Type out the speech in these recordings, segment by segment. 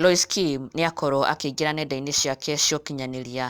Lois Kim nĩ akorũo akĩingĩra nenda-inĩ ciake cia ũkinyanĩria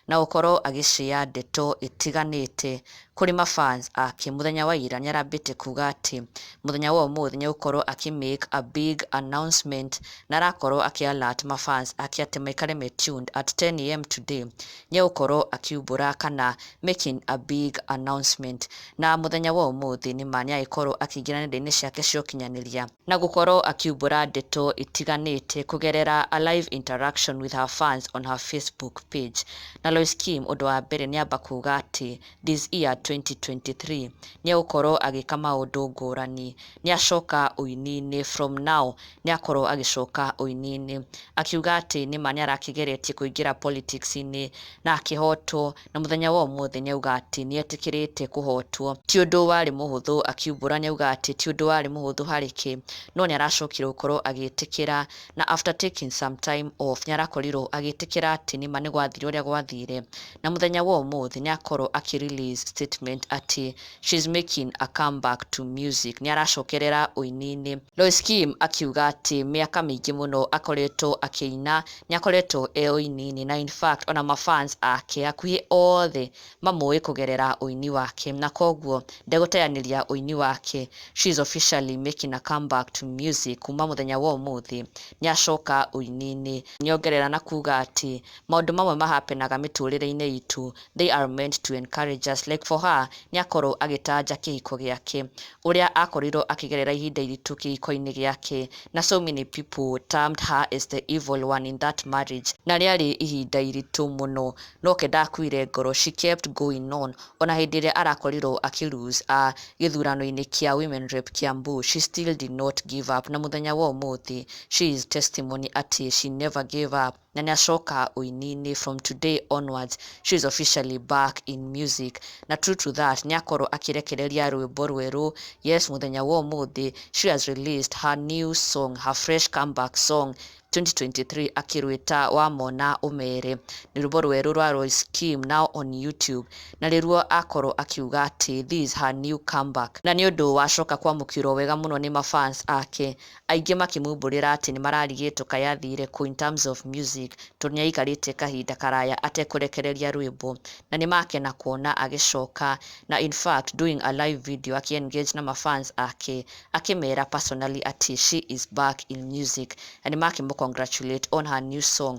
na gũkorũo agĩcea ndeto itiganĩte kũrĩ ma fans ake, mũthenya wa ira nĩ arambĩte kuuga atĩ mũthenya wa ũmũthĩ nĩ agũkorũo akĩ make a big announcement na arakorũo akĩ alert ma fans ake atĩ maikare me tuned at 10am today nĩ agũkorũo akiumbũra kana making a big announcement na mũthenya wa ũmũthĩ nĩ ma nĩ agĩkorũo akĩingĩra nenda-inĩ ciake cia ũkinyanĩria Na gũkorwo akiumbũra ndeto itiganĩte kũgerera a live interaction with her fans on her Facebook page. Na Lois Kim ũndũ wa mbere nĩamba kuga atĩ this year 2023 nĩegũkorwo agĩka maũndũ ngũrani. Nĩacoka ũini-inĩ, from now nĩakorwo agĩcoka ũini-inĩ. Akiuga atĩ nĩma nĩarakĩgeretie kũingĩra politics-inĩ na akĩhotwo na mũthenya wa ũmũthĩ nĩauga atĩ nĩetĩkĩrĩte kũhotwo. Ti ũndũ warĩ mũhũthũ, akiumbũra, nĩauga atĩ ti ũndũ warĩ mũhũthũ harĩ kĩ, no nĩaracokire gũkorwo agĩtĩkĩra, na after taking some time off nĩarakorirwo agĩtĩkĩra atĩ nĩma nĩgwathire ũrĩa gwathire, na mũthenya wa ũmũthĩ nĩakorwo akĩ release statement atĩ She's making a come back to music, nĩ aracokerera ũini-inĩ. Lois Kim akiuga atĩ mĩaka mĩingĩ mũno akoretwo akĩina, nĩ akoretwo e ũini-inĩ na in fact ona ma fans ake hakuhĩ othe mamũĩ kũgerera ũini wake na kwoguo ndegũteanĩria ũini wake. She's officially making a come back to music, kuuma mũthenya wa ũmũthĩ nĩ acoka ũini-inĩ. Nĩ ongerera na kuuga atĩ, Maũndũ mamwe ma hapenaga mĩtũrĩre-inĩ itũ they are meant to encourage us like for her nĩ akorwo agĩtanja kĩhiko gĩake ũrĩa akorirwo akĩgerera ihinda iritũ kĩhiko-inĩ gĩake na so many people termed her as the evil one in that marriage na rĩarĩ ihinda iritũ mũno noke ndakuire ngoro she kept going on ona hĩndĩ ĩrĩa arakorirwo akĩ lose a gĩthurano-inĩ kĩa women rep Kiambu she still did not give up na mũthenya wa ũmũthĩ she is testimony atĩ she never gave up Na nĩacoka ũininĩ from today onwards she is officially back in music na true to that nĩakorwo akĩrekereria rwĩmbo rwerũ yes mũthenya wa ũmũthĩ she has released her new song her fresh comeback song 2023 akĩrwĩta wamona ũmere nĩ rwĩmbo rwerũ rwa Royce Kim now on YouTube na rĩruo akorwo akiuga atĩ this is her new comeback na nĩ ũndũ wacoka kwamũkĩrwo wega mũno nĩ ma fans ake aingĩ makĩmumbũrĩra atĩ nĩmararigĩtwo kaĩ athire kũ in terms of music tondũ nĩaikarĩte kahinda karaya atekũrekereria rwĩmbo na nĩmakena kuona agĩcoka na in fact doing a live video akĩ engage na ma fans ake akĩmera personally atĩ she is back in music na nĩmakĩmũ congratulate on her new song